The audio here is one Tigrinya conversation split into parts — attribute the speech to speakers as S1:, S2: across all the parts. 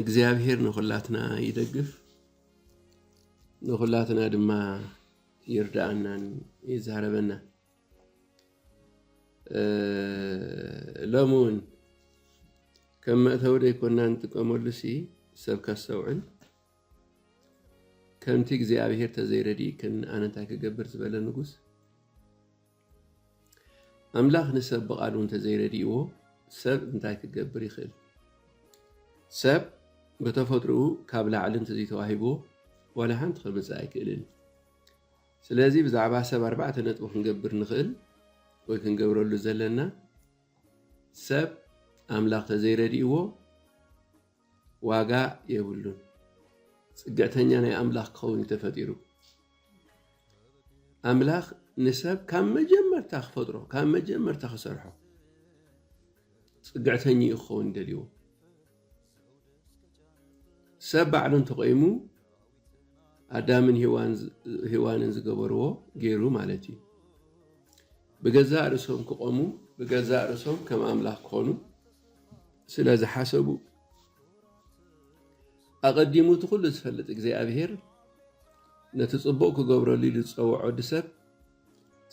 S1: እግዚኣብሔር ንኹላትና ይደግፍ ንኹላትና ድማ ይርዳኣናን ይዛረበና ሎሚ እውን ከም መእተዊ ደይኮና ንጥቀመሉ ሲ ሰብ ከስተውዕል ከምቲ እግዚኣብሔር ተዘይረድእክን ኣነንታይ ክገብር ዝበለ ንጉስ ኣምላኽ ንሰብ ብቓሉ እንተዘይረዲእዎ ሰብ እንታይ ክገብር ይኽእል? ሰብ ብተፈጥሮኡ ካብ ላዕሊ እንተዘይተዋሂብዎ ዋላ ሓንቲ ከምፅእ ኣይክእልን። ስለዚ ብዛዕባ ሰብ ኣርባዕተ ነጥቢ ክንገብር ንኽእል ወይ ክንገብረሉ ዘለና ሰብ ኣምላኽ ተዘይረዲእዎ ዋጋ የብሉን ፅግዕተኛ ናይ ኣምላኽ ክኸውን እዩ ተፈጢሩ ኣምላኽ ንሰብ ካብ መጀመርታ ክፈጥሮ ካብ መጀመርታ ክሰርሖ ፅግዕተኛ እዩ ክኸውን ደልዎ ሰብ ባዕሉ እንተቆይሙ ኣዳምን ሂዋንን ዝገበርዎ ገይሩ ማለት እዩ ብገዛእ ርእሶም ክቆሙ ብገዛእ ርእሶም ከም ኣምላኽ ክኾኑ ስለ ዝሓሰቡ ኣቐዲሙ እቲ ኩሉ ዝፈልጥ እግዚኣብሔር ነቲ ጽቡቕ ክገብረሉ ኢሉ ዝጸውዖ ወዲ ሰብ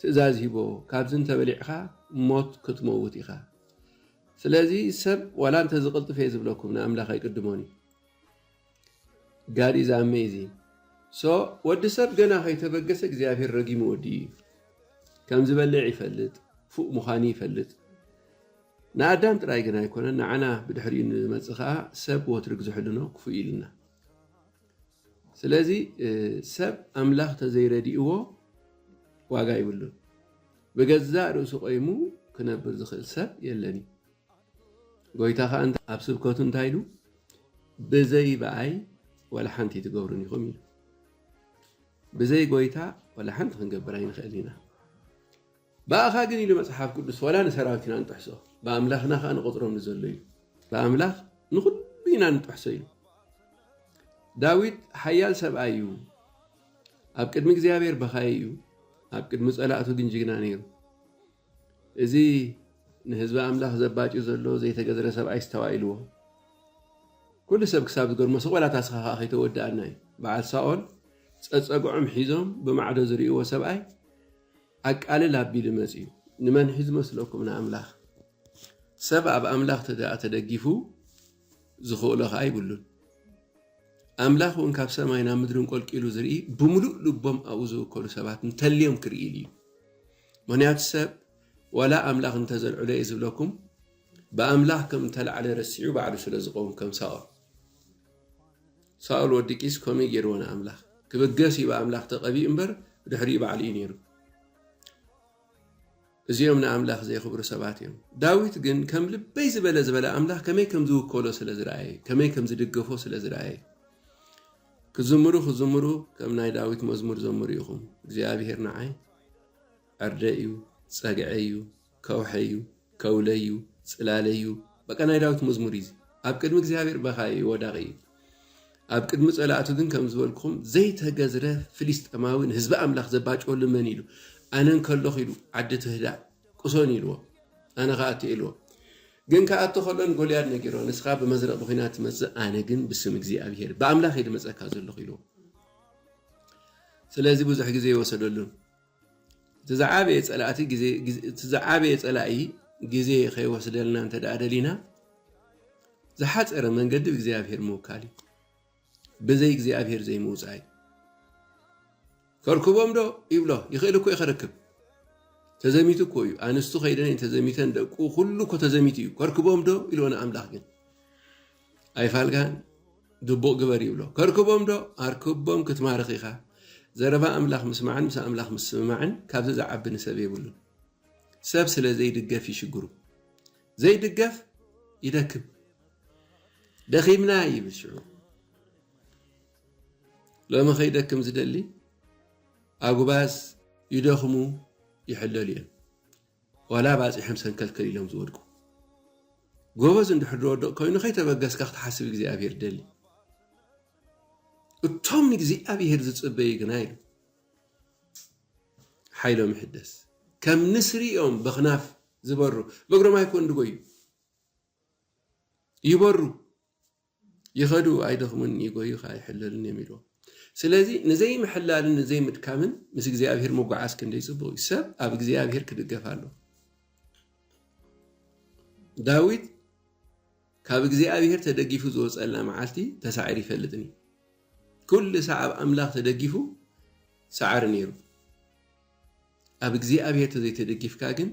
S1: ትእዛዝ ሂቦ ካብዚ እንተበሊዕኻ ሞት ክትመውት ኢኻ ስለዚ ሰብ ዋላ እንተዝቕልጥፍ እየ ዝብለኩም ንኣምላኽ ኣይቅድሞን እዩ God is amazing so ወዲ ሰብ ገና ከይተበገሰ እግዚኣብሔር ረጊሙ ወዲኡ እዩ ከም ዝበልዕ ይፈልጥ ፉእ ምዃኑ ይፈልጥ ንኣዳም ጥራይ ግን ኣይኮነን ንዓና ብድሕሪኡ ንመፅእ ከዓ ሰብ ወትሪ ግዝሕሉ ነው ክፉእ ኢልና ስለዚ ሰብ ኣምላኽ ተዘይረድእዎ ዋጋ ይብሉን ብገዛእ ርእሱ ቆይሙ ክነብር ዝኽእል ሰብ የለን እዩ ጎይታ ከኣ ኣብ ስብከቱ እንታይ ኢሉ ብዘይ ብኣይ ዋላ ሓንቲ ኣይትገብሩን ኢኹም ኢሉ ብዘይ ጎይታ ዋላ ሓንቲ ክንገብር ኣይንኽእል ኢና ብኣኻ ግን ኢሉ መጽሓፍ ቅዱስ ዋላ ንሰራዊት ኢና ንጥሕሶ ብኣምላኽና ከዓ ንቆፅሮም ንዘሎ ኢሉ ብኣምላኽ ንኩሉ ኢና ንጥሕሶ ኢሉ ዳዊት ሓያል ሰብኣይ እዩ ኣብ ቅድሚ እግዚኣብሔር በኻይ እዩ ኣብ ቅድሚ ፀላእቱ ግን ጅግና ነይሩ እዚ ንህዝቢ ኣምላኽ ዘባጭ ዘሎ ዘይተገዝረ ሰብኣይ ኣስተባኢልዎ ኩሉ ሰብ ክሳብ ዝገርሞ ስቕ በላ ታስኻ ከኣ ከይተወድኣና እዩ በዓል ሳኦል ጸጸግዖም ሒዞም ብማዕዶ ዝርእይዎ ሰብኣይ ኣቃልል ኣቢሉ መጽዩ ንመን ሒዙ መስለኩም ንኣምላኽ ሰብ ኣብ ኣምላኽ ተደኣ ተደጊፉ ዝኽእሎ ከኣ ይብሉን ኣምላኽ እውን ካብ ሰማይ ናብ ምድሪ እንቆልቂሉ ዝርኢ ብምሉእ ልቦም ኣብኡ ዝውከሉ ሰባት እንተልዮም ክርኢ ኢሉ እዩ ምኽንያቱ ሰብ ዋላ ኣምላኽ እንተ ዘልዕሎ እየ ዝብለኩም ብኣምላኽ ከም እተላዕለ ረሲዑ ባዕሉ ስለ ዝቐውም ከም ሳኦል ሳኦል ወዲ ቂስ ከምኡ ገይርዎ ንኣምላኽ ክብገስ እዩ ብኣምላኽ ተቐቢኡ እምበር ብድሕሪኡ ባዕሉ እዩ ነይሩ እዚኦም ንኣምላኽ ዘየኽብሩ ሰባት እዮም ዳዊት ግን ከም ልበይ ዝበለ ዝበለ ኣምላኽ ከመይ ከም ዝውከሎ ስለ ዝረኣየ ከመይ ከም ዝድገፎ ስለ ዝረኣየ ክዝምሩ ክዝምሩ ከም ናይ ዳዊት መዝሙር ዘምሩ ኢኹም እግዚኣብሄር ንዓይ ኣርደእዩ ጸግዐዩ ከውሐዩ ከውለዩ ጽላለዩ በቃ ናይ ዳዊት መዝሙር እዩ ኣብ ቅድሚ እግዚኣብሔር በኻይ እዩ ወዳቂ እዩ ኣብ ቅድሚ ጸላእቱ ግን ከም ዝበልኩም ዘይተገዝረ ፍሊስጠማዊ ንህዝቢ ኣምላኽ ዘባጨወሉ መን ኢሉ ኣነ እንከለኹ ኢሉ ዓዲ ትህዳእ ቁሶን ኢልዎ ኣነ ከኣቱ ኢልዎ ግን ከኣቱ ከሎ ንጎልያድ ነጊሮ ንስኻ ብመዝረቕ ብኩናት ትመጽእ ኣነ ግን ብስም እግዚኣብሄር ብኣምላኽ ኢሉ መጸካ ዘለኹ ኢልዎ ስለዚ ብዙሕ ግዜ ኣይወሰደሉን። እቲ ዝዓበየ ጸላእቲ ግዜ እቲ ዝዓበየ ጸላኢ ግዜ ከይወስደልና እንተ ደኣ ደሊና ዝሓጸረ መንገዲ እግዚኣብሔር ምውካል እዩ። ብዘይ እግዚኣብሔር ዘይምውጻእ እዩ። ከርክቦም ዶ ይብሎ ይኽእል እኮ እዩ ከርክብ ተዘሚቱ እኮ እዩ ኣንስቱ ከይደን ተዘሚተን ደቁ ኩሉ እኮ ተዘሚቱ እዩ ከርክቦም ዶ ኢልዎ ንኣምላኽ ግን ኣይፋልካን ግቡእ ግበር ይብሎ ከርክቦም ዶ ኣርክቦም ክትማርኽ ኢኻ ዘረባ ኣምላኽ ምስማዕን ምስ ኣምላኽ ምስምማዕን ካብዚ ዝዓቢ ንሰብ የብሉን ሰብ ስለ ዘይድገፍ ይሽግሩ ዘይድገፍ ይደክም ደኺምና ይብል ሽዑ ሎሚ ከይደክም ዝደሊ ኣጉባዝ ይደኽሙ ይሕለሉ እዮም ዋላ ባጺሖም ሰንከልከል ኢሎም ዝወድቁ። ጎበዝ እንድሕር ዝወድቕ ኮይኑ ከይተበገስካ ክትሓስብ እግዚኣብሄር ደሊ። እቶም ንእግዚኣብሄር ዝጽበዩ ግና ኢሉ ሓይሎም ይሕደስ፣ ከም ንስሪ እዮም በኽናፍ ዝበሩ፣ በእግሮም ኣይኮን ድጎዩ ይበሩ። ይኸዱ ኣይደኽሙን ይጎዩኻ ኣይሕለሉን እዮም ኢልዎ ስለዚ ንዘይምሕላልን ንዘይምድካምን ምስ እግዚኣብሄር ምጉዓዝ ክንደይ ጽቡቕ እዩ ሰብ ኣብ እግዚኣብሄር ክድገፍ ኣለዎ ዳዊት ካብ እግዚኣብሄር ተደጊፉ ዝወፀላ መዓልቲ ተሳዒር ይፈልጥን እዩ ኩሉ ሳዕ ኣብ ኣምላኽ ተደጊፉ ጻዕሪ ነይሩ ኣብ እግዚኣብሄር ተዘይተደጊፍካ ግን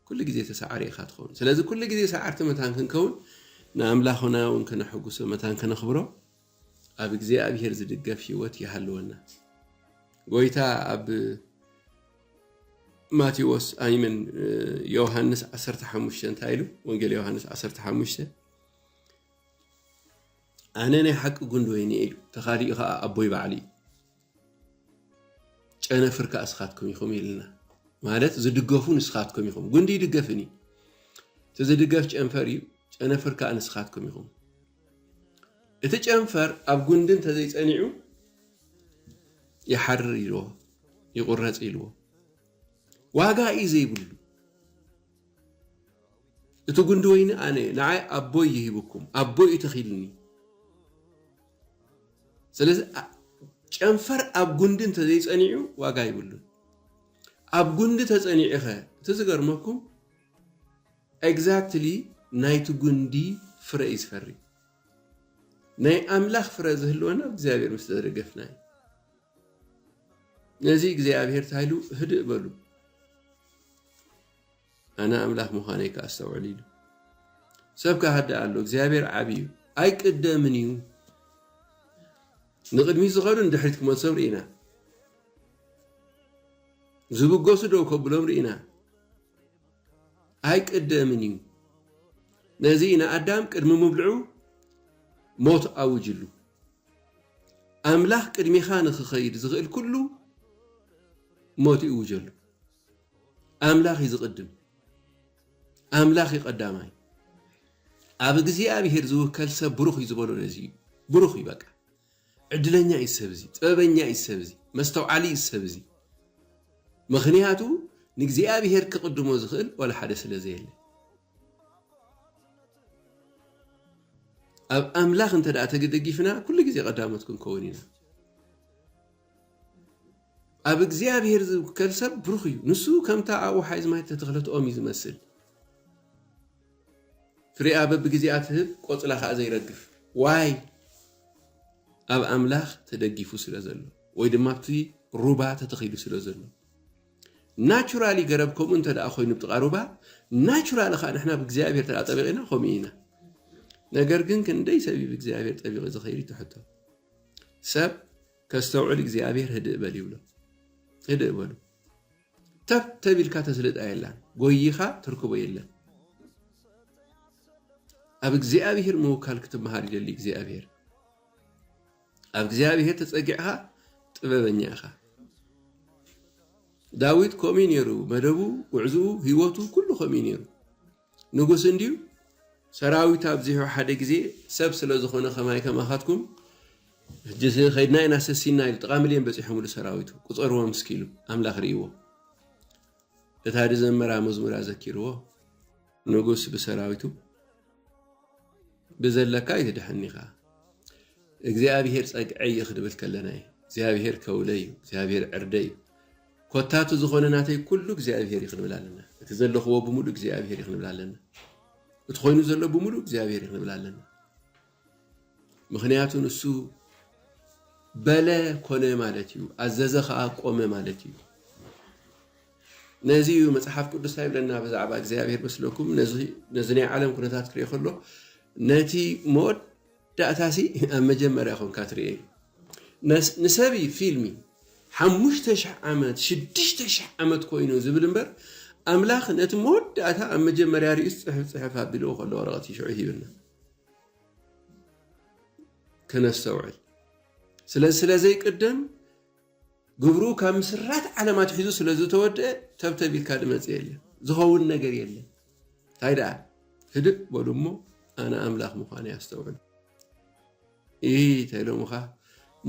S1: ኩሉ ግዜ ተሳዓሪ ኢኻ ትኸውን ስለዚ ኩሉ ግዜ ሰዓርቲ መታን ክንከውን ንኣምላኹና እውን ከነሐጉሶ መታን ከነኽብሮ ኣብ እግዚኣብሔር ዝድገፍ ህይወት ይሃልወና ጎይታ ኣብ ማቴዎስ ኣይምን ዮሐንስ 15 እንታይ ኢሉ ወንጌል ዮሐንስ 15 ኣነ ናይ ሓቂ ጉንዲ ወይኒ ኢሉ ተኻሊኡ ከዓ ኣቦይ ባዕሉ እዩ ጨነፍር ከዓ እስኻትኩም ይኹም ይልና ማለት ዝድገፉ ንስኻትኩም ይኹም ጉንዲ ይድገፍን እዩ እቲ ዝድገፍ ጨንፈር እዩ ጨነፍር ከዓ ንስኻትኩም ይኹም እቲ ጨንፈር ኣብ ጉንዲ እንተዘይፀኒዑ ይሓርር ኢልዎ ይቑረፅ ኢልዎ ዋጋ እዩ ዘይብሉ እቲ ጉንዲ ወይኒ ኣነ ንዓይ ኣቦይ ይሂብኩም ኣቦይ እዩ ተኺልኒ ስለዚ ጨንፈር ኣብ ጉንዲ እንተዘይፀኒዑ ዋጋ ይብሉን ኣብ ጉንዲ ተፀኒዑኸ እቲ ዝገርመኩም ኤግዛክትሊ ናይቲ ጉንዲ ፍረ እዩ ዝፈሪ ናይ ኣምላኽ ፍረ ዝህልወና እግዚኣብሔር ምስ ተደገፍና እዩ ነዚ እግዚኣብሔር ታይሉ ህድእ በሉ ኣነ ኣምላኽ ምዃነይ ከኣ ኣስተውዕል ኢሉ። ሰብ ክሃድእ ኣሎ፣ እግዚኣብሔር ዓቢ እዩ፣ ኣይቅደምን እዩ። ንቕድሚት ዝኸዱ ንድሕሪት ክመልሶም ርኢና፣ ዝብገሱ ደው ከብሎም ርኢና። ኣይቅደምን እዩ። ነዚ ኢና ኣዳም ቅድሚ ምብልዑ ሞት ኣውጅሉ። ኣምላኽ ቅድሚኻ ንክኸይድ ዝኽእል ኩሉ ሞት ይእውጀሉ። ኣምላኽ እዩ ዝቕድም፣ ኣምላኽ እዩ ቀዳማይ። ኣብ እግዚኣብሄር ዝውከል ሰብ ብሩኽ እዩ ዝበሎ ነዚ እዩ። ብሩኽ እዩ በቃ። ዕድለኛ እዩ ሰብ እዚ፣ ጥበበኛ እዩ ሰብ እዚ፣ መስተውዓሊ እዩ ሰብ እዚ። ምኽንያቱ ንእግዚኣብሄር ክቕድሞ ዝኽእል ዋላ ሓደ ስለ ዘየለ። ኣብ ኣምላኽ እንተ ተደጊፍና ኩሉ ግዜ ቀዳሞት ክንከውን ኢና። ኣብ እግዚኣብሔር ዝውከል ሰብ ብሩኽ እዩ። ንሱ ከምታ ኣብ ወሓይዝ ማይ እተተኽለት ኦም እዩ ዝመስል፣ ፍሬኣ በብግዜኣ ትህብ፣ ቆጽላ ኸኣ ዘይረግፍ። ዋይ ኣብ ኣምላኽ ተደጊፉ ስለ ዘሎ ወይ ድማ ኣብቲ ሩባ ተተኺሉ ስለ ዘሎ ናቹራሊ ገረብ ከምኡ እንተ ደኣ ኮይኑ ብጥቓ ሩባ ናቹራሊ ከዓ ንሕና ብእግዚኣብሔር ተኣ ጠቢቂና ከምኡ ኢና ነገር ግን ክንደይ ሰብ እዩ ብእግዚኣብሔር ጠቢቂ ዝኸይድ ትሕቶ ሰብ ከስተውዕል እግዚኣብሔር ህድእ በል ይብሎ ህድእ በሉ ተብ ተቢልካ ተስልጣ የላን ጎይኻ ትርክቦ የለን ኣብ እግዚኣብሔር ምውካል ክትመሃር ይደሊ እግዚኣብሔር ኣብ እግዚኣብሔር ተፀጊዕኻ ጥበበኛ ኢኻ ዳዊት ከምኡ ነይሩ መደቡ ጉዕዝኡ ህይወቱ ኩሉ ከምኡ ነይሩ ንጉስ እንድዩ ሰራዊት ኣብዚሑ ሓደ ግዜ ሰብ ስለ ዝኾነ ከማይ ከማኻትኩም ሕጂ ከድና ኢና ሰሲና ኢሉ ጥቃ ምልዮን በጺሖምሉ ሰራዊቱ ቁጸርዎም እስኪ ኢሉ ኣምላኽ ርእይዎ እታ ድዘመራ መዝሙር ኣዘኪርዎ ንጉስ ብሰራዊቱ ብዘለካ ይትድሐኒ ኢኻ እግዚኣብሔር ጸግዐይ ክድብል ከለና እዩ እግዚኣብሔር ከውለይ እዩ እግዚኣብሔር ዕርደይ እዩ ኮታ እቲ ዝኾነ ናተይ ኩሉ እግዚኣብሔር እዩ ክንብል ኣለና እቲ ዘለኽዎ ብምሉእ እግዚኣብሔር እዩ ክንብል ኣለና እቲ ኮይኑ ዘሎ ብምሉእ እግዚኣብሔር እዩ ክንብል ኣለና ምክንያቱ ንሱ በለ ኮነ ማለት እዩ ኣዘዘ ከዓ ቆመ ማለት እዩ ነዚ እዩ መፅሓፍ ቅዱስ እንታይ ይብለና ብዛዕባ እግዚኣብሄር መስለኩም ነዚ ናይ ዓለም ኩነታት ክሪኦ ከሎ ነቲ ሞት ዳእታሲ ኣብ መጀመርያ ኮንካ ትርእየዩ ንሰብይ ፊልሚ ሓሙሽተ ሽሕ ዓመት ሽዱሽተ ሽሕ ዓመት ኮይኑ ዝብል እምበር ኣምላኽ ነቲ መወዳእታ ኣብ መጀመርያ ርእዩስ ጽሑፍ ጽሑፍ ኣቢልዎ ከሎ ወረቐት ሽዑ ሂብና ከነስተውዕል ስለዚ ስለ ዘይቅደም ግብሩ ካብ ምስራት ዓለም ኣትሒዙ ስለ ዝተወድኣ ተብተብ ኢልካ ዝመጽእ የለን። ዝኸውን ነገር የለን። እንታይ ደኣ ህድእ በሉ እሞ ኣነ ኣምላኽ ምዃነይ ኣስተውዕሉ። እይ ተኢሎምኻ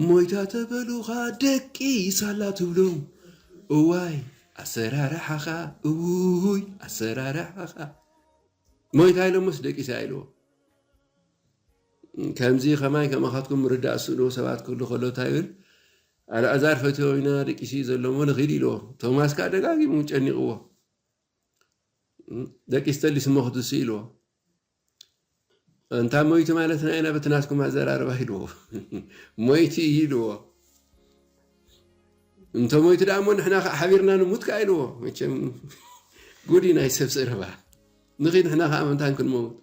S1: ሞይታ ተበሉኻ ደቂ ሳላ ትብሎም እዋይ ኣሰራርሓኻ እውይ ኣሰራርሓኻ ሞይታ ኢሎምስ ደቂሳ ኢልዎ ከምዚ ከማይ ከማኻትኩም ምርዳእ ዝስእንዎ ሰባት ክህሉ ከሎ እንታይ ይብል? ኣልኣዛር ፈትዮ ኢና ደቂሱ እዩ ዘሎ እሞ ንኺድ ኢልዎ። ቶማስ ከኣ ደጋጊሙ ጨኒቕዎ ደቂስ ተሊስ እሞ ክትሱ ኢልዎ። እንታ ሞይቲ ማለትና ኢና በቲ ናትኩም ኣዘራርባ ኢልዎ። ሞይቲ እዩ ኢልዎ። እንተ ሞይቲ ደኣ እሞ ንሕና ከዓ ሓቢርና ንሙት ከዓ ኢልዎ። መቸም ጉዲ ናይ ሰብ ዘረባ ንኺድ ንሕና ከዓ ምንታን ክንመውት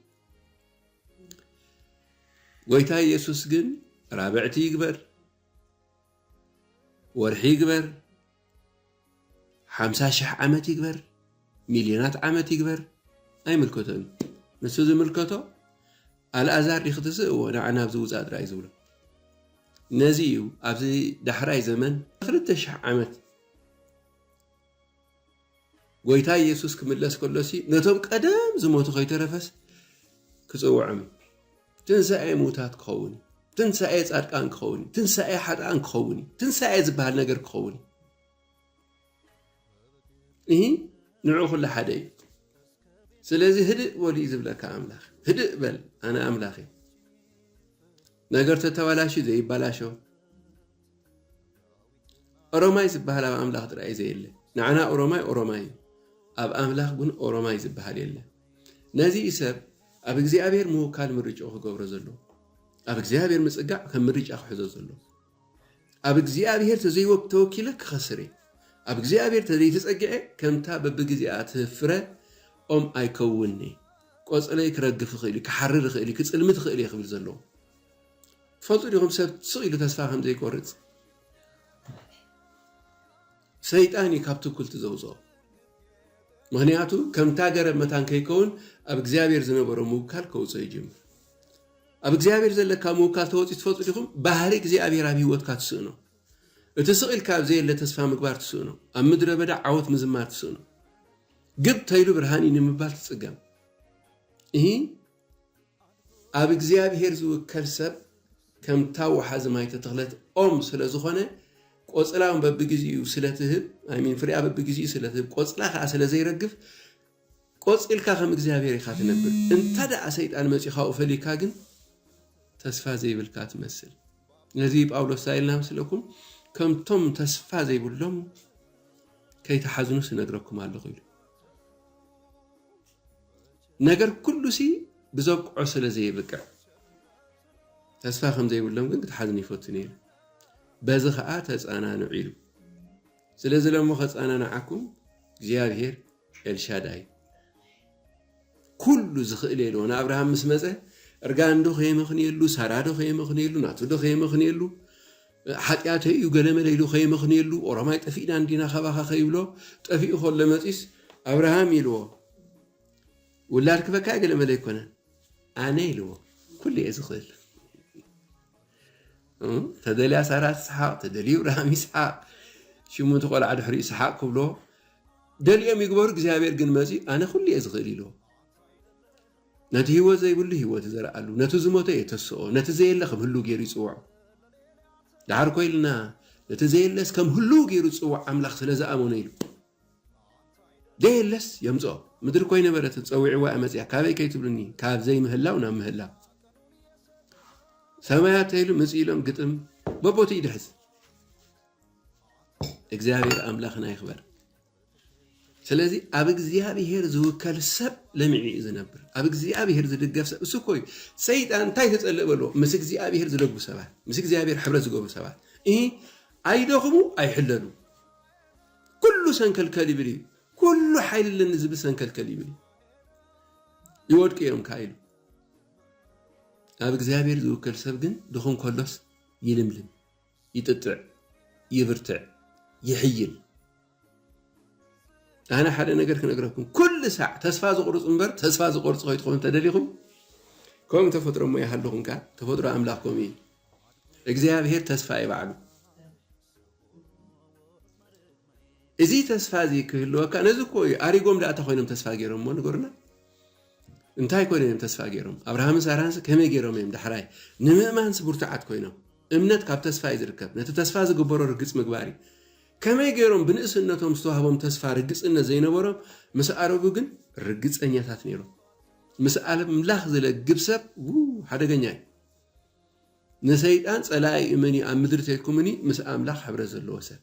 S1: ጎይታ ኢየሱስ ግን ራብዕቲ ይግበር ወርሒ ይግበር ሓምሳ ሽሕ ዓመት ይግበር ሚልዮናት ዓመት ይግበር ኣይምልከቶን ንሱ ዝምልከቶ ኣልኣዛር ዲኺ ትስእዎ ንዓና ኣብዚ ውፃእ ጥራይ ዝብሎ ነዚ እዩ ኣብዚ ዳሕራይ ዘመን ክልተ ሽሕ ዓመት ጎይታ ኢየሱስ ክምለስ ከሎሲ ነቶም ቀደም ዝሞቱ ከይተረፈስ ክጽውዖም እዩ። ትንሳኤ ምውታት ክኸውን እዩ። ትንሳኤ ጻድቃን ክኸውን እዩ። ትንሳኤ ሓጥኣን ክኸውን እዩ። ትንሳኤ ዝበሃል ነገር ክኸውን እዩ። እሂ ንዑ ኩሉ ሓደ እዩ ስለዚ ህድእ በሉ እዩ ዝብለካ ኣምላኽ ህድእ በል ኣነ ኣምላኽ እዩ ነገር ተተባላሽ ዘይባላሸው ኦሮማይ ዝባሃል ኣብ ኣምላኽ ጥራይ እዩ ዘየለ ንዓና ኦሮማይ ኦሮማይ እዩ ኣብ ኣምላኽ ግን ኦሮማይ ዝባሃል የለ ነዚ እዩ ሰብ ኣብ እግዚኣብሔር ምውካል ምርጫኡ ክገብሮ ዘሎ ኣብ እግዚኣብሔር ምጽጋዕ ከም ምርጫ ክሕዞ ዘሎ ኣብ እግዚኣብሔር ተዘይወብ ተወኪለ ክኸስር እየ ኣብ እግዚኣብሔር ተዘይተጸግዐ ከምታ በብግዜኣ ትህፍረ ኦም ኣይከውንኒ ቆጽለይ ክረግፍ ይኽእል እዩ ክሓርር ይኽእል እዩ ክጽልሚ ትኽእል እየ ክብል ዘለዎ ትፈልጡ ዲኹም ሰብ ስቕ ኢሉ ተስፋ ከም ዘይቆርጽ? ሰይጣን እዩ ካብ ትኩልቲ ዘውጽኦ። ምክንያቱ ከምታ ገረብ መታን ከይከውን ኣብ እግዚኣብሔር ዝነበሮ ምውካል ከውጽኦ ይጅምር። ኣብ እግዚኣብሔር ዘለካ ምውካል ተወጽኡ ትፈልጡ ዲኹም? ባህሪ እግዚኣብሔር ኣብ ህይወትካ ትስእኖ። እቲ ስቕ ኢልካ ኣብ ዘየለ ተስፋ ምግባር ትስእኖ። ኣብ ምድረ በዳ ዓወት ምዝማር ትስእኖ። ግብ ተይሉ ብርሃን እዩ ንምባል ትጽገም። እሂ ኣብ እግዚኣብሄር ዝውከል ሰብ ከምታ ወሓዚ ማይ ተተኽለት ኦም ስለዝኾነ ቆፅላ ውን በብግዚኡ ስለትህብ ኣይ ሚን ፍሪኣ በብግዚኡ ስለትህብ ቆፅላ ከዓ ስለዘይረግፍ ቆፂልካ ከም እግዚኣብሄር ኢኻ ትነብር እንተ ደኣ ሰይጣን መፅዩ ካብኡ ፈሊካ ግን ተስፋ ዘይብልካ ትመስል ነዚ ጳውሎስ እንታይ ኢልና መስለኩም ከምቶም ተስፋ ዘይብሎም ከይተሓዝኑስ እነግረኩም ኣለኹ ኢሉ ነገር ኩሉሲ ብዘብቅዖ ስለ ዘይብቅዕ ተስፋ ከም ዘይብሎም ግን ክትሓዝን ይፈቱ ነይሩ። በዚ ኸኣ ተጸናንዑ ኢሉ። ስለዚ ለሞ ከጸናንዓኩም እግዚኣብሔር ኤልሻዳይ ኩሉ ዝኽእል የልዎ ንኣብርሃም ምስ መፀ እርጋን ዶ ከየመኽንየሉ ሳራ ዶ ከየመኽንየሉ ናቱ ዶ ከየመኽንየሉ ሓጢኣተ እዩ ገለመለ ኢሉ ከይመኽንየሉ ኦሮማይ ጠፊእና እንዲና ካባኻ ከይብሎ ጠፊኡ ከሎ መፂስ ኣብርሃም ኢልዎ ውላድ ክበካይ ገለ መለ ኣይኮነን ኣነ ኢልዎ ኩሉ እየ ዝኽእል ተደልያ ሳራ ትስሓቅ ተደልዩ ብርሃም ይስሓቅ ሽሙ እቲ ቆልዓ ድሕሪኡ ይስሓቅ ክብሎ ደልዮም ይግበሩ እግዚኣብሔር ግን መፅኡ ኣነ ኩሉ እየ ዝኽእል ኢልዎ ነቲ ህይወት ዘይብሉ ህይወት ዘርኣሉ ነቲ ዝሞተ የተስኦ ነቲ ዘየለ ከም ህሉ ገይሩ ይፅውዖ ድሓር ኮይልና ነቲ ዘየለስ ከም ህሉ ገይሩ ዝፅውዕ ኣምላኽ ስለ ዝኣመኑ ኢሉ ዘየለስ የምጽኦ ምድሪ ኮይነበረትን ጸዊዕዋ እያ መጽያ ካበይ ከይትብሉኒ ካብ ዘይምህላው ናብ ምህላው ሰማያት ተይሉ ምፅ ኢሎም ግጥም በቦቲ ይድሕዝ እግዚኣብሔር ኣምላኽና ይኽበር ስለዚ ኣብ እግዚኣብሔር ዝውከል ሰብ ለሚዒ እዩ ዝነብር ኣብ እግዚኣብሔር ዝድገፍ ሰብ እሱ ኮዩ ሰይጣን እንታይ ተፀልእ በልዎ ምስ እግዚኣብሔር ዝደግፉ ሰባት ምስ እግዚኣብሔር ሕብረት ዝገብሩ ሰባት እ ኣይደኽሙ ኣይሕለሉ ኩሉ ሰንከልከል ይብል እዩ ኩሉ ሓይሊ ኣለኒ ዝብል ሰንከልከል ይብል እዩ ይወድቁ እዮም ከ ኢሉ ኣብ እግዚኣብሔር ዝውከል ሰብ ግን ድኹም ከሎስ ይልምልም ይጥጥዕ ይብርትዕ ይሕይል ኣነ ሓደ ነገር ክነግረኩም ኩሉ ሳዕ ተስፋ ዝቁርፁ እምበር ተስፋ ዝቆርፁ ከይትኾኑ ተደሊኹም ከምኡ ተፈጥሮ እሞ ይሃልኹም ከዓ ተፈጥሮ ኣምላኽ ከምኡ እዩ እግዚኣብሔር ተስፋ ይባዕሉ እዚ ተስፋ እዚ ክህልወካ ነዚ እኮ እዩ ኣሪጎም ዳኣ እንታይ ኮይኖም ተስፋ ገይሮም እሞ ንገሩና እንታይ ኮይኖም እዮም ተስፋ ገይሮም ኣብርሃምን ሳራንስ ከመይ ገይሮም እዮም ዳሕራይ ንምእማንስ ብርቱዓት ኮይኖም እምነት ካብ ተስፋ እዩ ዝርከብ ነቲ ተስፋ ዝግበሮ ርግፅ ምግባር እዩ ከመይ ገይሮም ብንእስነቶም ዝተዋህቦም ተስፋ ርግፅነት ዘይነበሮም ምስ ኣረጉ ግን ርግፀኛታት ነይሮም ምስ ኣምላኽ ዝለግብ ሰብ ሓደገኛ እዩ ንሰይጣን ጸላኢ እመን እዩ ኣብ ምድሪ ተይኩምኒ ምስ ኣምላኽ ሕብረት ዘለዎ ሰብ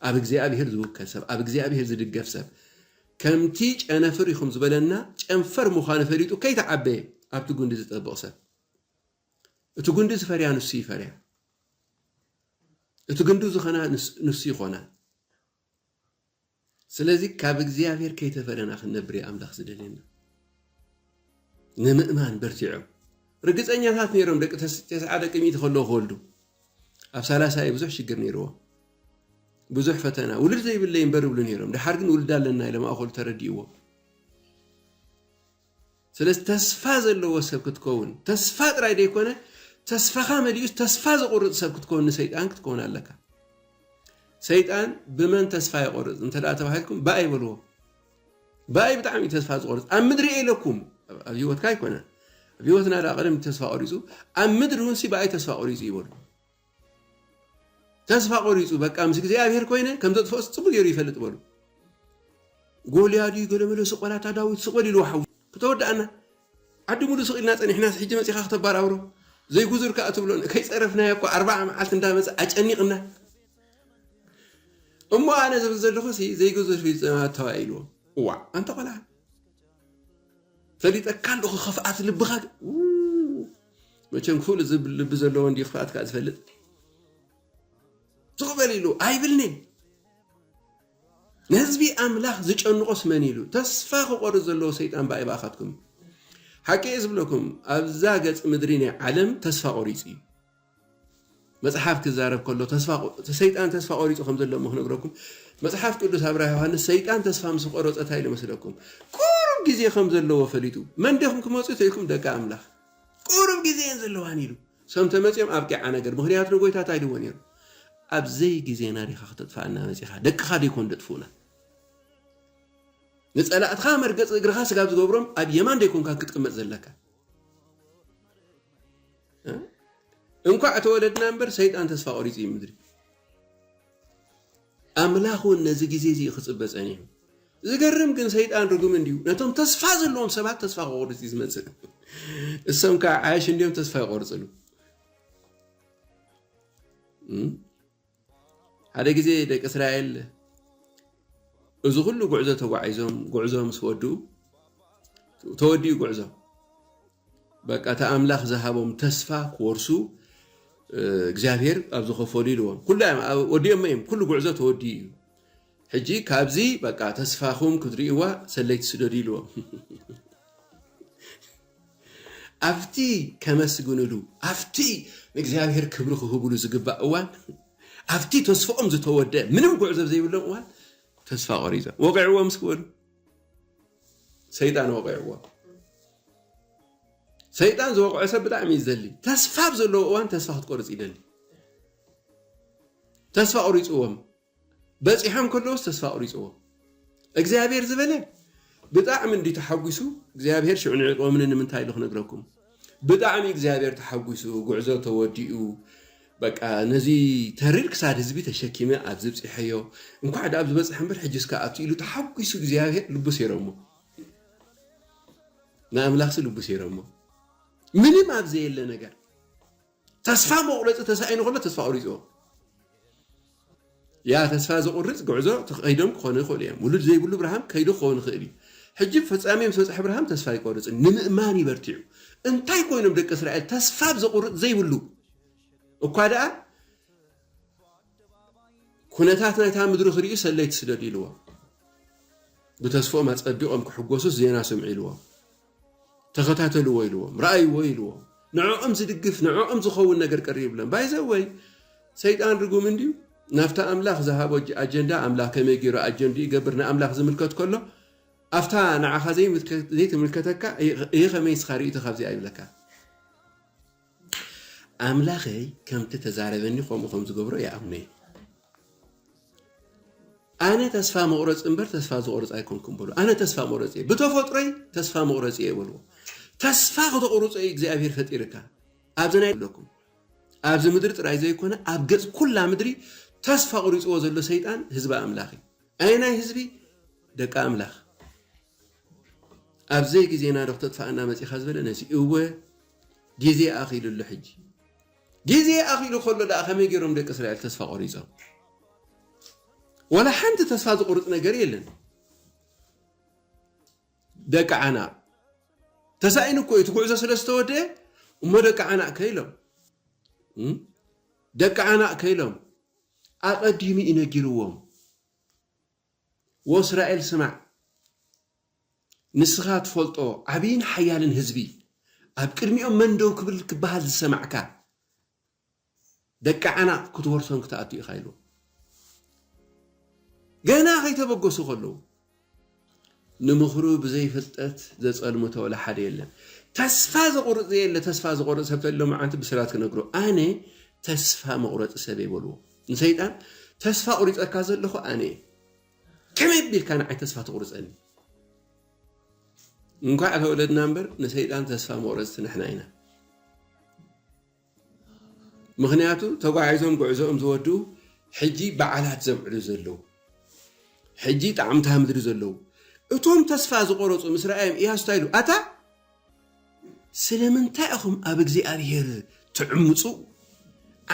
S1: ኣብ እግዚኣብሔር ዝውከል ሰብ ኣብ እግዚኣብሔር ዝድገፍ ሰብ ከምቲ ጨነፍር ኢኹም ዝበለና ጨንፈር ምዃኑ ፈሊጡ ከይተዓበየ ኣብቲ ጉንዲ ዝጠብቕ ሰብ እቲ ጉንዲ ዝፈርያ ንሱ ይፈርያ እቲ ግንዱ ዝኾና ንሱ ይኾና ስለዚ ካብ እግዚኣብሔር ከይተፈለና ክንነብር እዩ ኣምላኽ ዝደልየና። ንምእማን በርቲዖም ርግፀኛታት ነይሮም ደቂ ተስዓ ደቂ ሚእቲ ከለዉ ክወልዱ ኣብ ሳላሳ እዩ ብዙሕ ሽግር ነይርዎም ብዙሕ ፈተና ውልድ ዘይብለይ እምበር ይብሉ ነይሮም ድሓር ግን ውልድ ኣለና ኢሎም ኣኸሉ ተረዲእዎም ስለዚ ተስፋ ዘለዎ ሰብ ክትከውን ተስፋ ጥራይ ዘይኮነ ተስፋኻ መሊኡስ ተስፋ ዘቑርጽ ሰብ ክትከውን ንሰይጣን ክትከውን ኣለካ። ሰይጣን ብመን ተስፋ የቆርጽ እንተ ተባሂልኩም ብኣይ በልዎ። ብኣይ ብጣዕሚ እዩ ተስፋ ዝቆርጽ ኣብ ምድሪ እየ ኢለኩም ኣብ ሂወትካ ኣይኮነን ኣብ ሂወትና ዳ ቀደም ተስፋ ቆሪጹ ኣብ ምድሪ እውን ሲ ብኣይ ተስፋ ቆሪጹ ይበሉ ተስፋ ቆሪጹ በቃ ምስ እግዚኣብሔር ኮይነ ከም ዘጥፍኦስ ጽቡቅ ገይሩ ይፈልጥ በሉ። ጎልያድ እዩ ገለመለ ስቆላታ ዳዊት ስቆል ኢልዎ ሓው ክተወዳኣና ዓዲ ሙሉ ስቅ ኢልና ጸኒሕናስ ሕጂ መጺኻ ክተባራብሮ ዘይጉዙር ከኣ ትብሎን ከይጸረፍናዮ እኮ ኣርባዓ መዓልቲ እንዳመጸ ኣጨኒቅና እሞ ኣነ ዝብል ዘለኹ ሲ ዘይጉዙር ፊልጠማ ተባኢልዎ ዋዕ ኣንተ ቆልዓ ፈሊጠካ ኣለኹ ኽፍኣት ልብኻ ግን መቸም ክፍሉ ዝብል ልቢ ዘለዎ እንድዩ ክፍኣትካ ዝፈልጥ ስቕ በል ኢሉ ኣይብልኒን ንህዝቢ ኣምላኽ ዝጨንቆስ መን ኢሉ ተስፋ ክቆርጽ ዘለዎ ሰይጣን ባይ ባኻትኩም ሓቂ እየ ዝብለኩም ኣብዛ ገጽ ምድሪ ናይ ዓለም ተስፋ ቆሪጹ እዩ መጽሓፍ ክዛረብ ከሎ ሰይጣን ተስፋ ቆሪጹ ከም ዘሎ እሞ ክነግረኩም መጽሓፍ ቅዱስ ኣብ ራእይ ዮሃንስ ሰይጣን ተስፋ ምስ ቆረጸ እንታይ ኢሉ መስለኩም ቁሩብ ግዜ ከም ዘለዎ ፈሊጡ መን ዲኹም ክመጹ ተኢልኩም ደቂ ኣምላኽ ቁሩብ ግዜ እየን ዘለዋን ኢሉ ሰም ተመጺኦም ኣብቂዓ ነገር ምክንያቱ ንጎይታ እንታይ ኢልዎ ነይሩ ኣብ ዘይ ግዜና ዲኻ ክተጥፍኣና መጺኻ ደቅኻ ደይኮን ደጥፍኡና ንጸላእትኻ መርገጽ እግርኻ ስጋብ ዝገብሮም ኣብ የማን ደይኮንካ ክትቅመጥ ዘለካ እንኳዕ ተወለድና እምበር ሰይጣን ተስፋ ቆሪፁ እዩ ምድሪ ኣምላኽ እውን ነዚ ግዜ እዚ ክፅበ ጸኒሑ ዝገርም ግን ሰይጣን ርጉም እንዲዩ ነቶም ተስፋ ዘለዎም ሰባት ተስፋ ክቆርፅ እዩ ዝመፅእ እሶም ከዓ ዓያሽ እንዲዮም ተስፋ ይቆርፅሉ ሓደ ግዜ ደቂ እስራኤል እዚ ኩሉ ጉዕዞ ተጓዒዞም ጉዕዞ ምስ ወድኡ ተወዲኡ ጉዕዞ በቃ እቲ ኣምላኽ ዝሃቦም ተስፋ ክወርሱ እግዚኣብሔር ኣብ ዝኸፈሉ ኢልዎም ኩሉ ወዲኦሞ እዮም ኩሉ ጉዕዞ ተወዲኡ እዩ ሕጂ ካብዚ በቃ ተስፋኹም ክትሪእዋ ሰለይቲ ስደዱ ኢልዎም ኣብቲ ከመስግንሉ ኣብቲ ንእግዚኣብሔር ክብሪ ክህብሉ ዝግባእ እዋን ኣብቲ ተስፍኦም ዝተወደእ ምንም ጉዕዞ ዘይብሎም እዋን ተስፋ ቆሪጾም ወቂዕዎም እስኪ በሉ ሰይጣን ወቂዕዎም ሰይጣን ዝወቅዖ ሰብ ብጣዕሚ እዩ ዝደሊ ተስፋ ኣብ ዘለዎ እዋን ተስፋ ክትቆርፅ ይደሊ ተስፋ ቆሪፅዎም በጺሖም ከለውስ ተስፋ ኣቁሪጽዎም እግዚኣብሔር ዝበለ ብጣዕሚ እንድዩ ተሓጒሱ እግዚኣብሔር ሽዑ ንዒቅዎምኒ ንምንታይ ኢሉ ክነግረኩም ብጣዕሚ እግዚኣብሔር ተሓጒሱ ጉዕዞ ተወዲኡ በቃ ነዚ ተሪር ክሳድ ህዝቢ ተሸኪመ ኣብዚ ብጺሐዮ እንኳዕ ዳኣብ ዝበጽሐ እምበር ሕጅስ ከ ኣብቲ ኢሉ ተሓጒሱ እግዚኣብሔር ልቡ ሴረሞ ንኣምላኽሲ ልቡ ሴረሞ ምንም ኣብ ዘየለ ነገር ተስፋ መቑረፂ ተሳኢኑ ከሎ ተስፋ ቁሪፆ ያ ተስፋ ዘቑርፅ ጉዕዞ ተኸይዶም ክኾኑ ይኽእሉ እዮም ውሉድ ዘይብሉ ብርሃም ከይዱ ክኸውን ይኽእል እዩ ሕጂ ፈፃሚ ምስ በፅሐ ብርሃም ተስፋ ኣይቆርፅን ንምእማን ይበርቲዑ እንታይ ኮይኖም ደቂ እስራኤል ተስፋ ብ ዘቑርፅ ዘይብሉ እኳ ደኣ ኩነታት ናይታ ምድሪ ክርእዩ ሰለይቲ ስደዱ ኢልዎም ብተስፎኦም ኣፀቢቖም ክሕጎሱስ ዜና ስምዑ ኢልዎም ተኸታተልዎ ኢልዎም፣ ርኣይዎ ኢልዎም፣ ንዕኦም ዝድግፍ ንዕኦም ዝኸውን ነገር ቀሪብሎም፣ ባይ ዘ ወይ ሰይጣን ርጉም እንድዩ ናብታ ኣምላኽ ዝሃቦ ኣጀንዳ ኣምላኽ ከመይ ጌሩ ኣጀንድኡ ይገብር ንኣምላኽ ዝምልከት ከሎ ኣብታ ንዓኻ ዘይትምልከተካ እይኸመይ ንስኻ ርእይቶ ካብዚኣ ይብለካ። ኣምላኸይ ከምቲ ተዛረበኒ ከምኡ ከም ዝገብሮ ይኣምኖ እዩ። ኣነ ተስፋ መቑረፂ እምበር ተስፋ ዝቑርፅ ኣይኮንኩም በሉ። ኣነ ተስፋ መቑረፂ እየ፣ ብተፈጥሮይ ተስፋ መቑረፂ እየ በልዎ። ተስፋ ክተቑርፆ እዩ እግዚኣብሄር ፈጢርካ ኣብዚ ናይ ኣለኩም ኣብዚ ምድሪ ጥራይ ዘይኮነ ኣብ ገጽ ኩላ ምድሪ ተስፋ ቁሪጽዎ ዘሎ ሰይጣን ህዝቢ ኣምላኽ እዩ ኣየናይ ህዝቢ ደቂ ኣምላኽ ኣብ ዘይ ግዜና ዶ ክተጥፍኣና መጺኻ ዝበለ ነዚ እወ ግዜ ኣኺሉ ኣሎ ሕጂ ግዜ ኣኺሉ ከሎ ደኣ ከመይ ገይሮም ደቂ እስራኤል ተስፋ ቆሪጾም ወላ ሓንቲ ተስፋ ዝቑርጽ ነገር የለን ደቂ ዓናቕ ተሳኢኑ እኮ እዩ እቲ ጉዕዞ ስለ ዝተወደአ እሞ ደቂ ዓናቕ ከኢሎም ደቂ ዓናቕ ከኢሎም ኣቐዲሙ እዩ ነጊርዎም ወእስራኤል ስማዕ፣ ንስኻ ትፈልጦ ዓብይን ሓያልን ህዝቢ፣ ኣብ ቅድሚኦም መን ደው ክብል ክበሃል ዝሰማዕካ፣ ደቂ ዓናቕ ክትወርሶም ክትኣቱ ኢኻ ኢልዎም። ገና ከይተበገሱ ከለዉ፣ ንምኽሩ ብዘይ ፍልጠት ዘጸልምቶ ወላ ሓደ የለን። ተስፋ ዘቑርጽ ዘየለ ተስፋ ዝቖርጽ ሰብ ተልዮ መዓንቲ ብስራት ክነግሮ ኣነ ተስፋ መቑረጺ ሰብ እየ በልዎ ንሰይጣን ተስፋ ቑሪጸካ ዘለኹ ኣነ እየ ከመይ ኣቢልካ ንዓይ ተስፋ ትቑርጸኒ እንኳዕ ተወለድና እምበር ንሰይጣን ተስፋ መቑረጽቲ ንሕና ኢና ምኽንያቱ ተጓዒዞም ጉዕዞኦም ዝወድኡ ሕጂ በዓላት ዘብዕሉ ዘለዉ ሕጂ ጣዕሚ እታ ምድሪ ዘለዉ እቶም ተስፋ ዝቆረጹ ምስ ረኣዮም ኢያሱ እንታይ ኢሉ ኣታ ስለምንታይ ኢኹም ኣብ እግዚኣብሄር ትዕምጹ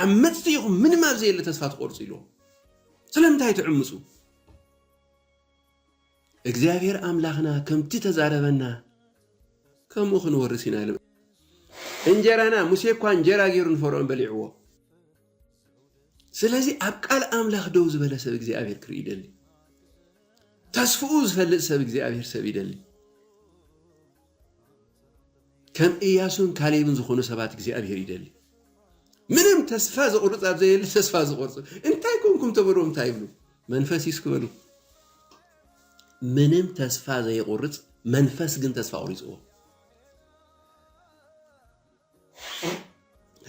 S1: ዓመጽቲ ኢኹም ምንም ኣብ ዘየለ ተስፋ ትቆርጹ ኢልዎም ስለምንታይ ትዕምጹ እግዚኣብሄር ኣምላኽና ከምቲ እተዛረበና ከምኡ ኽንወርስ ኢና ኢሎም። እንጀራና፣ ሙሴ እኳ እንጀራ ገይሩ ንፈርኦን በሊዕዎ። ስለዚ ኣብ ቃል ኣምላኽ ደው ዝበለ ሰብ እግዚኣብሄር ክርኢ ይደሊ። ተስፍኡ ዝፈልጥ ሰብ እግዚኣብሄር ሰብ ይደሊ። ከም እያሱን ካሌብን ዝኾኑ ሰባት እግዚኣብሔር ይደሊ። ምንም ተስፋ ዘቑርፅ ኣብ ዘየለ ተስፋ ዝቆርፁ እንታይ ኮንኩም ተበልዎም እንታይ ይብሉ መንፈስ ይስክ በሉ ምንም ተስፋ ዘይቆርፅ መንፈስ ግን ተስፋ ቆሪፅዎ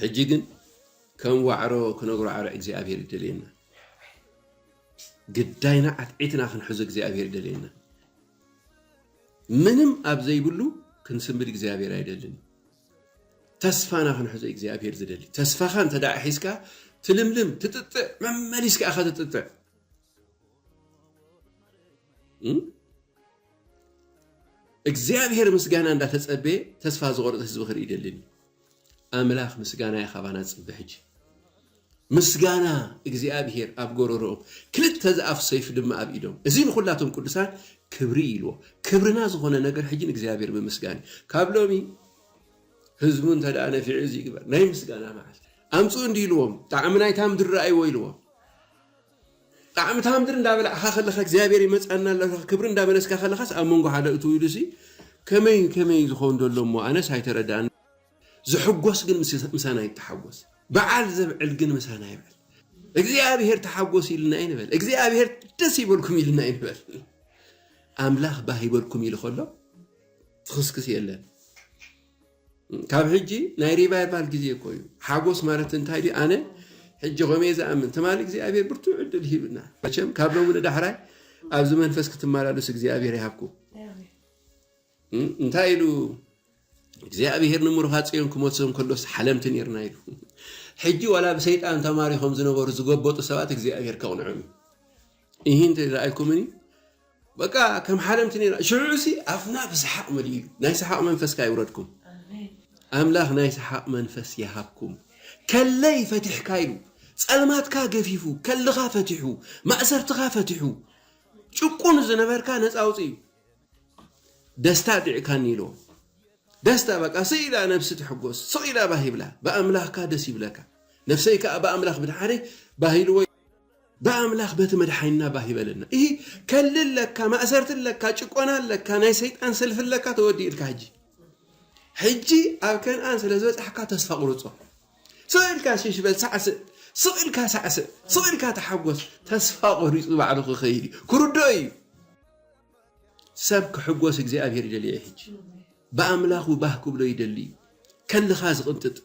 S1: ሕጂ ግን ከም ዋዕሮ ክነጉራዕርዕ እግዚኣብሄር ይደልየና ግዳይና ዓትዒትና ክንሕዞ እግዚኣብሄር ይደልየና ምንም ኣብ ዘይብሉ ክንስምብድ እግዚኣብሄር ኣይደልን ተስፋና ክንሕዞ እግዚኣብሄር ዝደሊ ተስፋኻ እንተ ደኣ ሒዝካ ትልምልም ትጥጥዕ መመሊስካ ኢኻ ትጥጥዕ እግዚኣብሔር ምስጋና እንዳተጸበየ ተስፋ ዝቆርጽ ህዝቢ ክርኢ ደልኒ ኣምላኽ ምስጋና ካባና ጽበ ሕጂ ምስጋና እግዚኣብሔር ኣብ ጎረሮኦም ክልተ ዝኣፍ ሰይፍ ድማ ኣብ ኢዶም እዚ ንኩላቶም ቅዱሳን ክብሪ ኢልዎ ክብርና ዝኾነ ነገር ሕጂ ንእግዚኣብሔር ምምስጋን ካብ ሎሚ ህዝቡ እንተ ደኣ ነፊዑ እዚ ይግበር ናይ ምስጋና መዓልቲ ኣምፅኡ እንዲ ኢልዎም ጣዕሚ ናይታ ምድሪ ረኣይዎ ኢልዎም ጣዕምታ ምድሪ እንዳበላዕካ ከለካ እግዚኣብሔር ይመጽኣና ኣሎ ኢልካ ክብሪ እንዳመለስካ ከለካስ ኣብ መንጎ ሓደ እትው ኢሉሲ ከመይ ከመይ ዝከውን ዘሎ እሞ ኣነስ ኣይተረድኣንን ዝሕጎስ ግን ምሳና ይተሓጎስ በዓል ዘብዕል ግን ምሳና ይብዕል እግዚኣብሔር ተሓጎስ ኢልና ይንበል እግዚኣብሔር ደስ ይበልኩም ኢልና ይንበል ኣምላኽ ባህ ይበልኩም ኢሉ ከሎ ትኽስክስ የለን ካብ ሕጂ ናይ ሪቫይቫል ግዜ እኮ እዩ ሓጎስ ማለት እንታይ ድዩ ኣነ ሕጂ ከመይ ዝኣምን ትማሊ እግዚኣብሔር ብርቱዕ ዕድል ሂብና መቸም ካብ ሎሚ ንዳሕራይ ኣብዚ መንፈስ ክትመላለሱ እግዚኣብሔር ይሃብኩም እንታይ ኢሉ እግዚኣብሔር ንምሩኻ ጽዮን ክመልሶም ከሎስ ሓለምቲ ነርና ኢሉ ሕጂ ዋላ ብሰይጣን ተማሪኾም ዝነበሩ ዝገበጡ ሰባት እግዚኣብሔር ከቕንዖም እዩ ይህን ረኣይኩምኒ በቃ ከም ሓለምቲ ኔርና ሽዑ'ሲ ኣፍና ብስሓቅ መሊኡ ኢሉ ናይ ስሓቅ መንፈስካ የውረድኩም ኣምላክ ናይ ስሓቅ መንፈስ ይሃብኩም ከለይ ፈቲሕካ ኢሉ ጸልማትካ ገፊፉ ከልኻ ፈቲሑ ማእሰርትኻ ፈቲሑ ጭቁን ዝነበርካ ነጻ ኣውጺኡ ደስታ ኣጢዕካኒ ኢሉ ደስታ በቃ ስቅ ኢላ ነብሲ ትሕጎስ ስቅ ኢላ ባህ ይብላ ብኣምላክካ ደስ ይብለካ ነፍሰይ ከኣ ብኣምላክ ምድሓነይ ባህ ኢልዎ ብኣምላኽ በቲ መድሓኒና ባህ ይበለና እሂ ከልሊ ኣለካ ማእሰርቲ ኣለካ ጭቆና ኣለካ ናይ ሰይጣን ሰልፊ ኣለካ ተወዲእልካ ሕጂ ሕጂ ኣብ ከንኣን ስለ ዝበጻሕካ ተስፋ ቁርጾ ስቕ ኢልካ ሽሽ በል ሳዕስእ ስቕ ኢልካ ሳዕስእ ስቕ ኢልካ ተሓጎስ ተስፋ ቆሪጹ ባዕሉ ክኸይድ እዩ ክርድኦ እዩ ሰብ ክሕጎስ እግዚኣብሄር ይደልዮ ሕጂ ብኣምላኹ ባህ ክብሎ ይደሊ እዩ ከልኻ ዝቕንጥጥ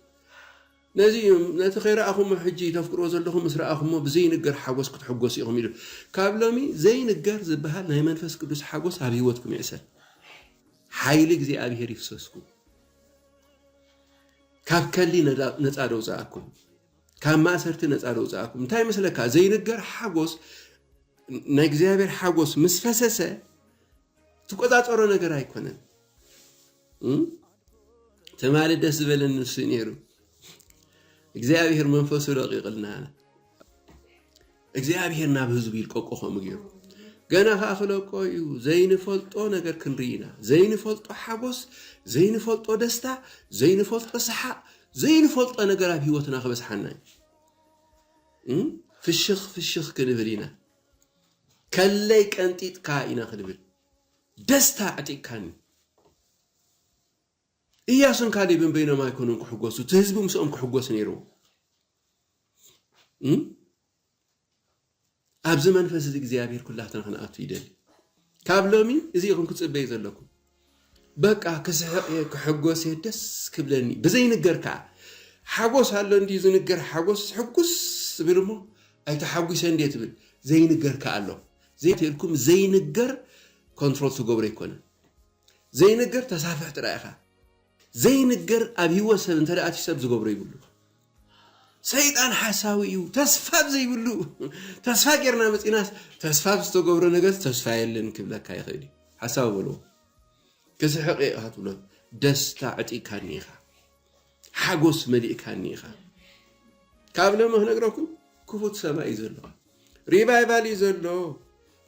S1: ነዚ እዩ ነቲ ከይረኣኹሞ ሕጂ ተፍቅርዎ ዘለኹም ምስ ረኣኹሞ ብዘይንገር ሓጎስ ክትሕጎሱ ኢኹም ኢሉ። ካብ ሎሚ ዘይንገር ዝበሃል ናይ መንፈስ ቅዱስ ሓጎስ ኣብ ህይወትኩም ይዕሰል። ሓይሊ እግዚኣብሄር ይፍሰስኩም። ካብ ከሊ ነጻ ደውጽኣኩም። ካብ ማእሰርቲ ነጻ ደውጽኣኩም። እንታይ መስለካ ዘይንገር ሓጎስ ናይ እግዚኣብሄር ሓጎስ ምስ ፈሰሰ ትቆጻጸሮ ነገር ኣይኮነን። ትማሊ ደስ ዝበለኒ ንሱ ነይሩ እግዚኣብሔር መንፈሱ ለቂቕልና እግዚኣብሔር ናብ ህዝቡ ይልቀቆ ከምኡ ገይሩ ገና ከዓ ክለቆ እዩ ዘይንፈልጦ ነገር ክንርኢ ኢና ዘይንፈልጦ ሓጎስ ዘይንፈልጦ ደስታ ዘይንፈልጦ ሰሓቅ ዘይንፈልጦ ነገር ኣብ ሂወትና ክበዝሓና እዩ ፍሽኽ ፍሽኽ ክንብል ኢና ከለይ ቀንጢጥካ ኢና ክንብል ደስታ ኣዕጢቅካኒ። እያሱን ካሌብን በይኖም ኣይኮኑን ክሕጎሱ፣ እቲ ህዝቢ ምስኦም ክሕጎስ ነይርዎ። ኣብዚ መንፈስ እዚ እግዚኣብሔር ኩላትና ክንኣቱ ይደሊ። ካብ ሎሚ እዚ ኢኹም ክፅበዩ ዘለኩ በቃ ክስሕቕ እየ ክሕጎስ እየ ደስ ክብለኒ ብዘይንገር ከዓ ሓጎስ ኣሎ እንዲ ዝንገር ሓጎስ ሕጉስ ትብል እሞ ኣይተሓጒሰ እንዴ ትብል ዘይንገር ከዓ ኣሎ ዘይተልኩም ዘይንገር ኮንትሮል ትገብሮ ኣይኮነን ዘይንገር ተሳፍሕ ጥራይ ኢኻ ዘይንገር ኣብ ሂወት ሰብ እንተ ኣትዩ ሰብ ዝገብሮ ይብሉ ሰይጣን ሓሳዊ እዩ ተስፋ ዘይብሉ ተስፋ ጌርና መፂናስ ተስፋ ዝተገብሮ ነገር ተስፋ የለን ክብለካ ይኽእል እዩ ሓሳዊ በልዎ ክስሕቕ ኢኻ ትብሎ ደስታ ዕጢካኒ ኢኻ ሓጎስ መሊእካኒ ኢኻ ካብ ለሞ ክነግረኩም ክፉት ሰማይ እዩ ዘለዎ ሪቫይቫል እዩ ዘሎ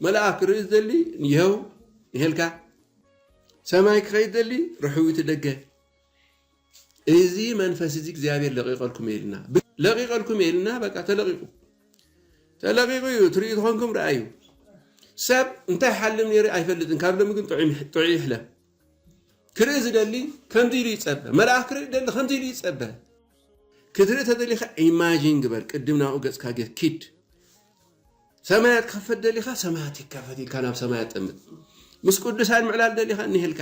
S1: መልኣክ ክርኢ ዝደሊ ይኸው ይሄልካ ሰማይ ክኸይድ ደሊ ርሕዊቲ ደገ እዚ መንፈስ እዚ እግዚኣብሔር ለቂቀልኩም የልና ለቂቀልኩም የልና በቃ ተለቂቁ ተለቂቁ እዩ ትርኢ ትኾንኩም ረኣዩ ሰብ እንታይ ሓልም ነይሩ ኣይፈልጥን ካብ ሎሚ ግን ጥዑይ ይሕለም ክርኢ ዝደሊ ከምዚ ኢሉ ይጸበ። መልኣኽ ክርኢ ዝደሊ ከምዚ ኢሉ ይጸበ። ክትርኢ ተደሊኻ ኢማጂን ግበር፣ ቅድም ናብኡ ገጽካ ጌር ኪድ። ሰማያት ክኸፈት ደሊኻ ሰማያት ይከፈት ኢልካ ናብ ሰማያት ጠምት። ምስ ቅዱሳን ምዕላል ደሊኻ እኒሄልካ፣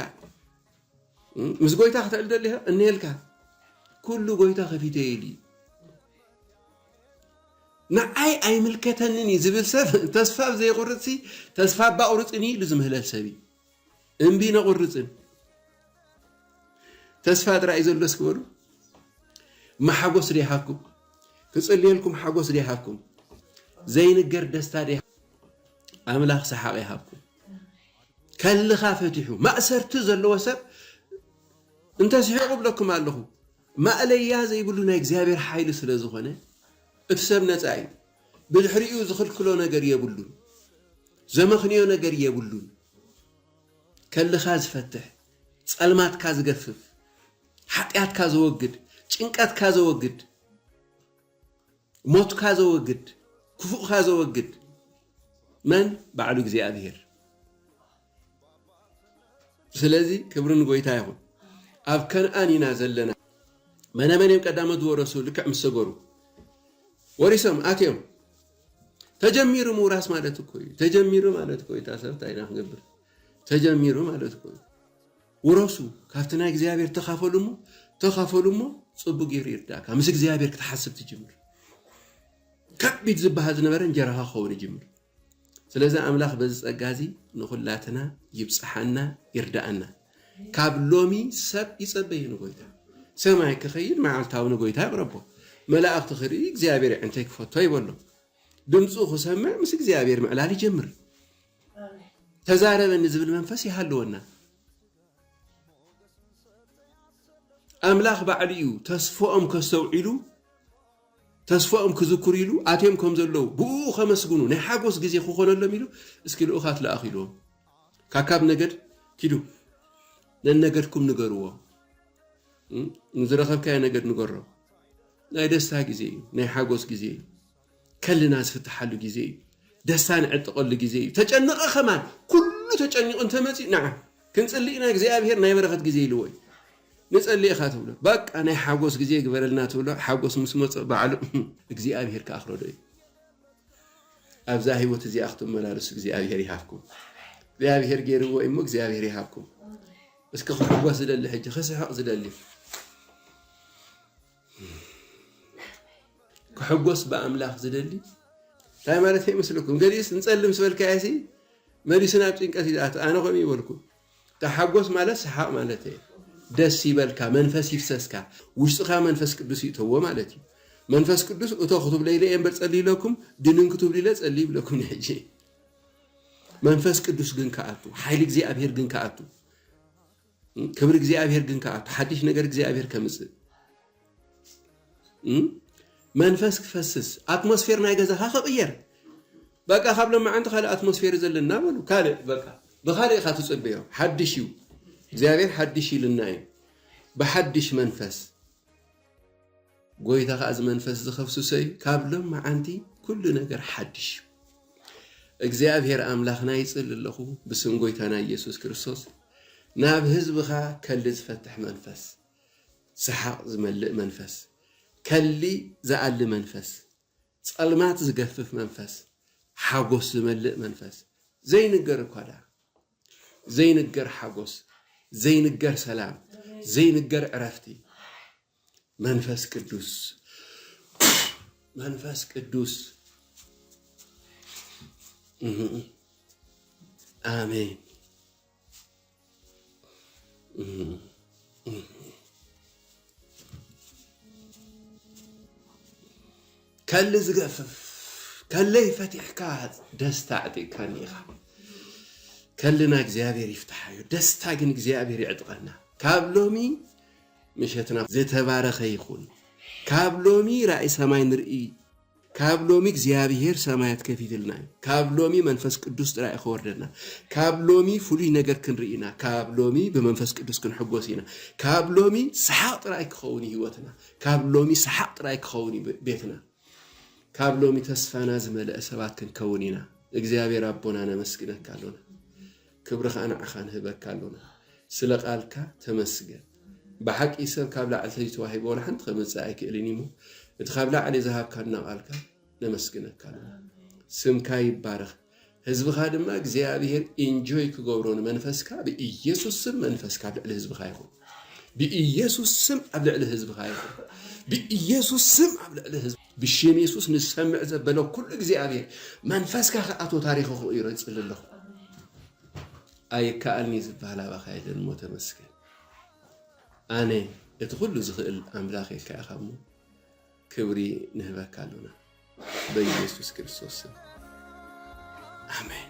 S1: ምስ ጎይታ ክትዕል ደሊኻ እኒሄልካ። ኩሉ ጎይታ ከፊተ ኢሉ እዩ። ንዓይ ኣይምልከተንን እዩ ዝብል ሰብ ተስፋ ዘይቁርጽ ተስፋ ባቁርጽን ኢሉ ዝምህለል ሰብ እዩ። እምቢ ነቑርፅን ተስፋ ጥራይ ዘሎ እስኪ በሉ ማሓጎስ ዶ ይሃብኩም ክፅልየልኩም ሓጎስ ዶ ይሃብኩም ዘይንገር ደስታ ዶ ኣምላኽ ሰሓቕ ይሃብኩም ከልኻ ፈቲሑ ማእሰርቲ ዘለዎ ሰብ እንተስሒቑ ብለኩም ኣለኹ ማእለያ ዘይብሉ ናይ እግዚኣብሔር ሓይሊ ስለ ዝኾነ እቲ ሰብ ነፃ እዩ ብድሕሪኡ ዝኽልክሎ ነገር የብሉን ዘመኽንዮ ነገር የብሉን ከልኻ ዝፈትሕ ጸልማትካ ዝገፍፍ ሓጥያትካ ዘወግድ ጭንቀትካ ዘወግድ ሞትካ ዘወግድ ክፉእካ ዘወግድ መን ባዕሉ እግዚኣብሄር ስለዚ ክብሪ ንጎይታ ይኹን ኣብ ከነኣን ኢና ዘለና መነ መን እዮም ቀዳሞት ዝወረሱ ልክዕ ምስ ሰገሩ ወሪሶም ኣትዮም ተጀሚሩ ምውራስ ማለት እኮ እዩ ተጀሚሩ ማለት እኮ እዩ ታሰብ እንታይ ኢና ክንገብር ተጀሚሩ ማለት እኮ እዩ ውረሱ ካብቲ ናይ እግዚኣብሔር ተኻፈሉ እሞ ተኻፈሉ እሞ ፅቡቅ ገይሩ ይርዳእካ ምስ እግዚኣብሔር ክትሓስብ ትጅምር ከቢድ ዝበሃል ዝነበረ እንጀራኻ ክኸውን ይጅምር ስለዚ ኣምላኽ በዚ ጸጋ እዚ ንኹላትና ይብጽሓና ይርድኣና። ካብ ሎሚ ሰብ ይጸበ እዩ ንጎይታ። ሰማይ ክኸይድ መዓልታዊ ንጎይታ ይቕረቦ። መላእኽቲ ክርኢ እግዚኣብሔር የዕንተይ ክፈቶ ይበሎ። ድምጹ ክሰምዕ ምስ እግዚኣብሔር ምዕላል ይጀምር። ተዛረበኒ ዝብል መንፈስ ይሃልወና። ኣምላኽ ባዕሉ እዩ ተስፎኦም ከስተውዒሉ ተስፋኦም ክዝክሩ ኢሉ ኣትዮም ከም ዘለዉ ብእኡ ከመስግኑ ናይ ሓጎስ ግዜ ክኾነሎም ኢሉ እስኪ ልኡኻት ልኣኽ ኢልዎም ካካብ ነገድ ኪዱ ነነገድኩም ንገርዎ ንዝረኸብካዮ ነገድ ንገሮ ናይ ደስታ ግዜ እዩ ናይ ሓጎስ ግዜ እዩ ከልና ዝፍትሓሉ ግዜ እዩ ደስታ ንዕጥቐሉ ግዜ እዩ ተጨነቐ ከማን ኩሉ ተጨኒቑ እንተመፅእ ንዓ ክንፅሊ ኢና እግዚኣብሄር ናይ በረኸት ግዜ ኢልዎ እዩ ንጸሊ ኢኻ ትብሎ ባቃ ናይ ሓጎስ ግዜ ይግበረልና ትብሎ ሓጎስ ምስ መጾ ባዕሉ እግዚኣብሄር ክኣኽሎዶ እዩ ኣብዛ ህይወት እዚኣ ክትመላለሱ እግዚኣብሄር ይሃብኩም እግዚኣብሄር ገይርዎ እዩ እሞ እግዚኣብሄር ይሃብኩም እስኪ ክሕጎስ ዝደሊ ሕጂ ክስሕቕ ዝደሊ ክሕጎስ ብኣምላኽ ዝደሊ እንታይ ማለት ይመስለኩም ገሊኡስ ንጸልም ስበልካየሲ መሊሱ ናብ ጭንቀት ይዝኣቱ ኣነ ከምኡ ይበልኩ ተሓጎስ ማለት ሰሓቅ ማለት እየ ደስ ይበልካ መንፈስ ይፍሰስካ ውሽጥካ መንፈስ ቅዱስ ይእተዎ ማለት እዩ መንፈስ ቅዱስ እቶ ክትብሎ ኢለ እየ እምበር ጸልዩ ኢለኩም ድንን ክትብሉ ኢለ ጸልዩ ይብለኩም ንሕጂ መንፈስ ቅዱስ ግን ከኣቱ ሓይሊ እግዚኣብሄር ግን ከኣቱ ክብሪ እግዚኣብሄር ግን ከኣቱ ሓድሽ ነገር እግዚኣብሄር ከምጽእ መንፈስ ክፈስስ ኣትሞስፌር ናይ ገዛኻ ክቕየር በቃ ካብ ለማዓንቲ ካልእ ኣትሞስፌር እዩ ዘለና በሉ ካልእ በቃ ብኻልእ ኢኻ ትፅበዮ ሓድሽ እዩ እግዚኣብሔር ሓድሽ ኢሉና እዩ ብሓድሽ መንፈስ ጎይታ ከዓ እዚ መንፈስ ዝኸፍስሶ እዩ ካብ ለማዓንቲ ኩሉ ነገር ሓድሽ እዩ እግዚኣብሔር ኣምላኽና ይፅል ኣለኹ ብስም ጎይታና ኢየሱስ ክርስቶስ ናብ ህዝብኻ ከልድ ዝፈትሕ መንፈስ ሰሓቕ ዝመልእ መንፈስ፣ ከሊ ዝኣሊ መንፈስ፣ ጸልማት ዝገፍፍ መንፈስ፣ ሓጎስ ዝመልእ መንፈስ፣ ዘይንገር እኳ ደኣ፣ ዘይንገር ሓጎስ፣ ዘይንገር ሰላም፣ ዘይንገር ዕረፍቲ፣ መንፈስ ቅዱስ መንፈስ ቅዱስ ኣሜን። ከሊ ዝገፍፍ ከለይ ፈቲሕካ ደስታ ዕጢቕካኒ ኢኻ ከልና እግዚኣብሔር ይፍትሓዮ ደስታ ግን እግዚኣብሔር ይዕጥቐና ካብ ሎሚ ምሸትና ዝተባረኸ ይኹን ካብ ሎሚ ራእይ ሰማይ ንርኢ ካብ ሎሚ እግዚኣብሄር ሰማያት ከፊትልና እዩ ካብ ሎሚ መንፈስ ቅዱስ ጥራይ ከወርደና ካብ ሎሚ ፍሉይ ነገር ክንርኢ ኢና ካብ ሎሚ ብመንፈስ ቅዱስ ክንሕጎስ ኢና ካብ ሎሚ ሰሓቕ ጥራይ ክኸውን ህይወትና ካብ ሎሚ ሰሓቕ ጥራይ ክኸውን እዩ ቤትና ካብ ሎሚ ተስፋና ዝመልአ ሰባት ክንከውን ኢና እግዚኣብሄር ኣቦና ነመስግነካ ኣሎና ክብሪ ከኣ ንዓኻ ንህበካ ኣሎና ስለ ቃልካ ተመስገን ብሓቂ ሰብ ካብ ላዕሊ ተይተዋሂቡ ወላ ሓንቲ ከመጽእ ኣይክእልን እዩሞ እቲ ካብ ላዕሊ ዝሃብካና ቃልካ ነመስግነካ ኣሎና ስምካ ይባረኽ ህዝብኻ ድማ እግዚኣብሔር ኢንጆይ ክገብሮ ንመንፈስካ ብኢየሱስ ስም መንፈስካ ኣብ ልዕሊ ህዝብኻ ይኹን ብኢየሱስ ስም ኣብ ልዕሊ ህዝብኻ ይኹን ብኢየሱስ ስም ኣብ ልዕሊ ህዝብ ብሽም የሱስ ንዝሰምዕ ዘበለ ኩሉ እግዚኣብሔር መንፈስካ ክኣቶ ታሪኽ ክቕይሮ ይጽሊ ኣለኹ ኣይከኣልኒ ዝበሃል ኣባኻ የለን እሞ ተመስገን ኣነ እቲ ኩሉ ዝኽእል ኣምላኽ የካ ኢኻ እሞ ክብሪ ንህበካ ኣሎና በኢየሱስ ክርስቶስ ስም ኣሜን